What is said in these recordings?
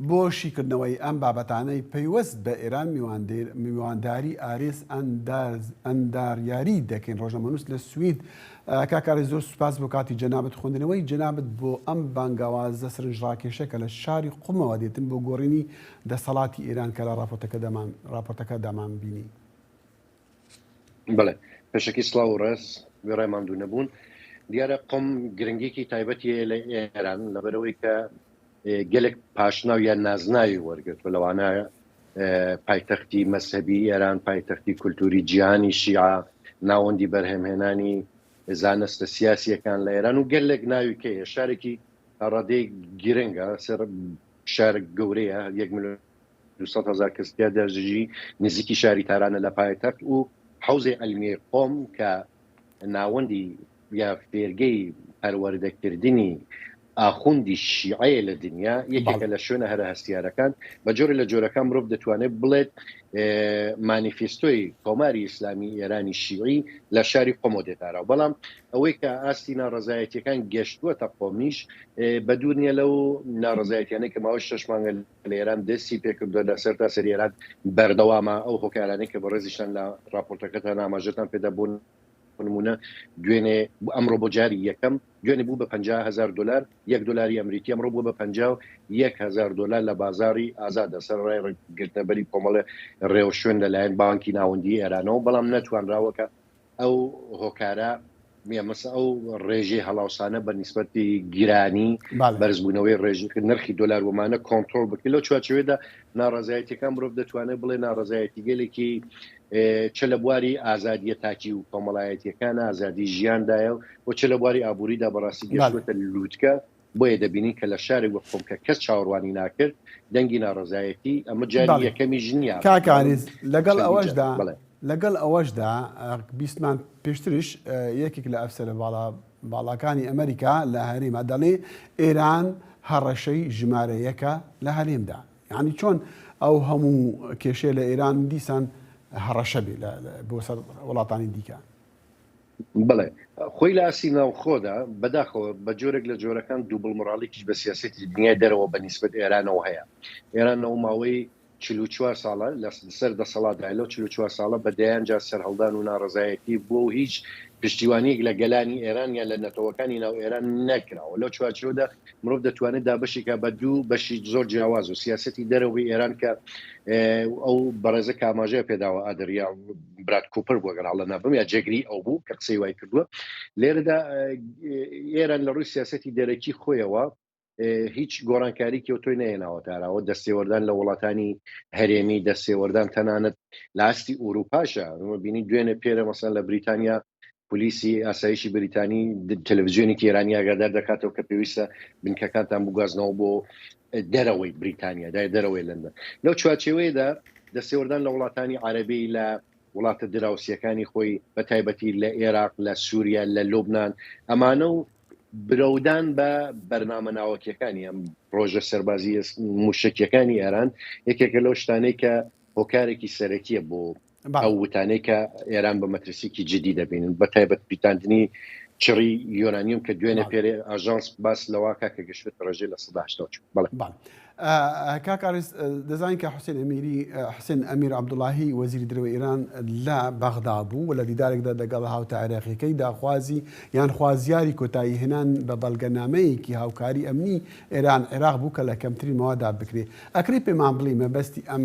بۆ شیکردنەوەی ئەم بابەتانەی پەیوەست بە ئێران میوانداری ئاریس ئەنداریاری دەکەین ڕۆژنامەنووس لە سوید. کاک ئاریس زۆر سوپاس بۆ کاتی جەنابت، خوێندنەوەی جەنابت بۆ ئەم بانگەوازە سرنجڕاکێشە کە لە شاری قومەوە دێتن بۆ گۆڕینی دەسەڵاتی ئێران کە لە ڕاپۆرتەکەدامان بینی. بەڵێ پێشەکی سڵاو و ڕێز وێڕای ماندوو نەبوون دیارە قۆم گرنگێکی تایبەتی هەیە لە ئێران لەبەرەوەی کە گەلێک پاشناو یان نازناوی وەرگرتوە لەوانە پایتەختی مەسەبی ئێران پایتەختی کولتوری جیهانی شیعە ناوەندی بەرهەمهێنانی زانستە سیاسیەکان لە ئێران و گەلێک ناوی کە شارێکی ڕادەی گرنگە سەر شار گەورەیە یەک ملیۆن دوو سەد هەزار کەس تیا دەژی، نزیکی شاری تارانە لە پایتەخت و حەوزەی عەلمیەی قۆم کە ناوەندی یا فێرگەی پەروەردەکردنی ئاخوندی شیعەیە لە دنیا یەکێکە لە شوێنە هەرە هەستیارەکان بە جۆرە لە جۆرەکان مرۆڤ دەتوانێت بڵێت مانیفستۆی کۆماری ئیسلامی ئێرانی شیعی لە شاری قۆمۆ دێتارا و بەڵام ئەوەی کە ئاستی ناڕزایەتیەکان گەشتووە تە قۆمیش بە دوور نیە لەو ناڕزایەتیانە کە ماوەی شش مانگە لە ئێران دەستی پێکردووە، لە سەرتاسەری ئێران بەردەوامە، ئەو هۆکارانەی کە بەڕێزیشتان لە ڕاپۆرتەکەتان ئاماژەتان پێدا بۆ نموونە دوێنێ ئەمڕۆ بۆ جاری یەکەم دوێنێ بوو بە پەنجا هەزار دۆلار، یەک دۆلاری ئەمریکی ئەمڕۆ بووە بە پەنجا و یەک هەزار دۆلار لە بازاڕی ئازاددا سەرەڕای ڕێککەوتنە بەری کۆمەڵێ ڕێوشوێن لەلایەن بانکی ناوەندیی ئێرانەوە، بەڵام نەتوانراوە کە ئەو هۆکارە نیە مەسە ئەو ڕێژەی هەڵاوسانە بە نیسبەتی گیرانی بەرزبوونەوەی ڕێژی نرخی دلار ومانە کۆنتترۆل بکە لەو چوارچوێدا ناڕازایەتەکان مرۆڤ دەتوانێت بڵێ ناڕزایەتی گەلێکی چ لە بواری ئازادیە تاکی و کۆمەڵایەتیەکان ئازادی ژیاندایە و چ لە بواری ئابووریدا بەڕاستی گەشتێتە لووتکە بۆیە دەبینین کە لە شارێک وەک خۆمکە کەس چاوەڕوانی ناکرد دەنگی ناڕەزایەتی ئەمە جاری یەکەمیش نییە کاکانیز لەگەڵ ئەوەشدا بڵێ لەگەڵ ئەوەشدا بیستمان پێشترش یەکێک لە ئەفسەرە باڵا باڵاکانی ئەمریکا لە هەرێما دەڵێ ئێران هەڕەشەی ژمارەیەکە لە هەرێمدا یعنی چۆن ئەو هەموو کێشێ لە ئێران دیسان هەڕەشە بێ بۆ سەر وڵاتانی دیکە بەڵێ خۆی لە ئاسی ناوخۆدا بەداخەوە بە جۆرێک لە جۆرەکان دووبڵ مڕاڵێکیش بە سیاستی دنیای دەرەوە بە نیسبت ئێرانەوە هەیە ئێران ئەو ماوەی چوار ساڵە لە سەر دەسەڵاتدا لەو چوار ساڵە بە دەیان جار سەرهەڵدان و ناڕزایەتی بۆ و هیچ پشتیوانیەک لە گەلانی ئێران یا لە نەتەوەکانی ناو ئێران نەکراوە لەو چوارچۆدا مرۆڤ دەتوانێت دابشێکە بە دوو بەشی زۆر جیاواز و سیاستی دەرەوەی ئێران کە ئەو بەڕێزە کاماژەیە پێداوە ئادریان براد کوپەر بوو گەر هەڵە نابم یا جێگری ئەو بوو کە قسەی وای کردووە لێرەدا ئێران لە ڕووی سیاستی دەرەکی خۆیەوە هیچ گۆرانکاریکی و تۆی نەێناوە تاراوە دەستێوەردان لە وڵاتانی هەرێمی دەستێوەردان تەنانەت لاستی ئوروپاشە بینی دوێنێ پێرە مەسەن لە بریتانیا پۆلیسی ئاسایشی بەریتانی تەلەڤزیۆنێکی ئێرانی ئاگادار دەکاتەوە کە پێویستە بنکەکانتان بگوازنەوە بۆ دەرەوەی بریتانیا دای دەرەوەی لەندەن لەو چوارچێوەیەدا دەستێوەردان لە وڵاتانی عربی لە وڵاتە دراوسەکانی خۆی بە تایبەتی لە عێراق لە سووریا لە لوبناان ئەمانە و برەودان بە بەرنامە ناوەکیەکانی ئەم ڕۆژە سەربازی موشکیەکانی ئێران یەکێکە لەو شتانەی کە هۆکارێکی سەرەکیە بۆ ئەو وتانەی کە ئێران بە مەترسیکی جدی دەبینن بە تایبەت پیتاندنی چڕی یۆرانیوم کە دوێنێ پێرێ ئاژانس باس لەواکە کە گەشت ڕێژەی لە سەداشتەوە چوو بڵێ کاکارس دەزانین کە حوسێن ئەمیری حسێن ئەمیر عبدوڵاهی وەزیری درەوە ئێران لە بەغدا بوو و لە دیدارێکدا دەگەڵ هاوتا عێراقیەکەی داخوازی یان خوازیاری کۆتایی هێنان بە بەڵگەنامەیەکی هاوکاری ئەمنی ئێران عێراق بوو کە لە کەمتری ماوادا بکرێ ئەکری پێمان بڵی مەبەستی ئەم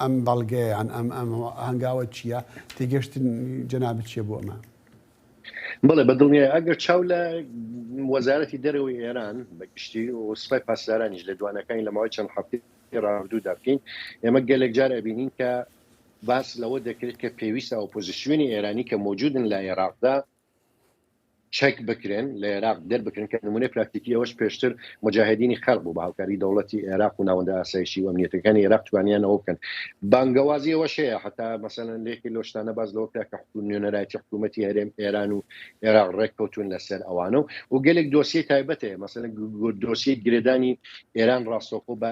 ئەم بەڵگەیە یان ئەم ئەم هەنگاوە چییە؟ تێگەشتن جەنابت چییە بۆ ئەمە؟ بەڵێ بە دڵنیای ئەگەر چاو لە وەزارەتی دەرەوەی ئێران بە گشتی و سپای پاسدارانیش لە دوانەکانی لە ماوەی چەند هەفتەی ڕابردوودا بکەین ئێمە گەلێک جار ئەبینین کە باس لەوە دەکرێت کە پێویستە ئۆپۆزیسیۆنی ئێرانی کە مەوجودن لە ئێراقدا چەک بکرێن لە عێراق دەربکرێن کە نمونەی پراکتیکی ئەوەش پێشتر مجاهدینی خەرق بوو بە هاوکاری دەوڵەتی عێراق و ناوەندە ئاسایشی و ئەمنیەتەکانی عێراق توانیانەوە بکەن بانگەوازی ئەوەشەیە حتا مەسەەن لێکی لۆشتانە باز لەوە کرا کە حکوم نوێنەرایەتی حکوومەتتی هەرێم ئێران و عێراق ڕێککەوتون لەسەر ئەوانە و و گەلێک دۆسیی تایبەتەیە مەسەن دۆسیی گرێدانی ئێران ڕاستەخۆ بە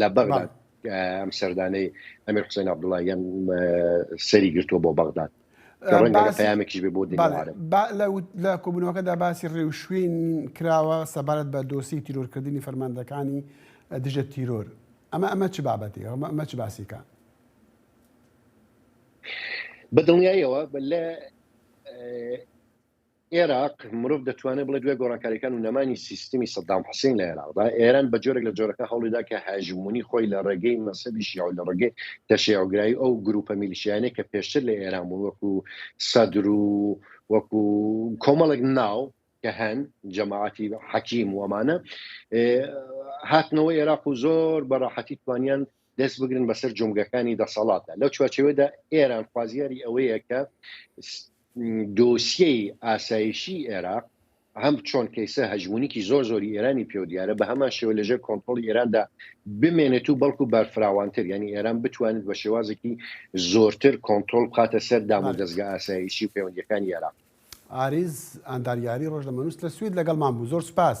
لە بەغداد ئەم سەردانەی ئەمیر حوسێن عەبدوڵڵاهیان سەری گرتووە بۆ بەغداد پەیامێکیش بۆ لە کۆبوونەوەکەدا باسی ڕێوشوین کراوە سەبارەت بە دۆسی تیرۆرکردنی فەرماندەکانی دژە تیرۆر ئەمە ئەمە چ بابەتی ئەمە ئەمە چ باسیکە بە دڵنیایەوە لە ئێراق، مرۆڤ دەتوانێت بڵێت دوای گۆڕانکارییەکان و نەمانی سیستمی سەدام حوسین لە ئێراقدا، ئێران بە جۆرێک لە جۆرەکان هەوڵی دا کە هەژموونی خۆی لە ڕێگەی مەزهەبی شیعە و لە ڕێگەی تەشەیوعگرایی و ئەو گرووپە میلیشیایانەی کە پێشتر لە ئێران بوون وەکو سەدر و وەکو کۆمەڵێک ناو کە هەن، جەماعەتی حەکیم و ئەمانە، هاتنەوە ئێراق و زۆر بە ڕاحەتی توانیان دەست بگرن بەسەر جومگەکانی دەسەڵاتدا لەو چوارچەوەدا ئێران خوازیاری ئەوەیە کە دۆسیەی ئاسایشی عێراق هەم چۆن کەیسە هەژمونیکی زۆر زۆری ئێرانی پێو دیارە بە هەمان شێوە لەژێر کۆنتترۆلی ئێراندا بمێنێت و بەڵکو بەرفراوانتر ینی ئێران بتوانێت بە شێوازێکی زۆرتر کۆنتترۆل بخاتە سەر دام و دەستگە ئاسایشی و پەیوەندەکانی عێراق ئاریز ئەنداریاری ڕۆژ لە مەنووس لە سوید لەگەڵمان بوو زۆر سپاس.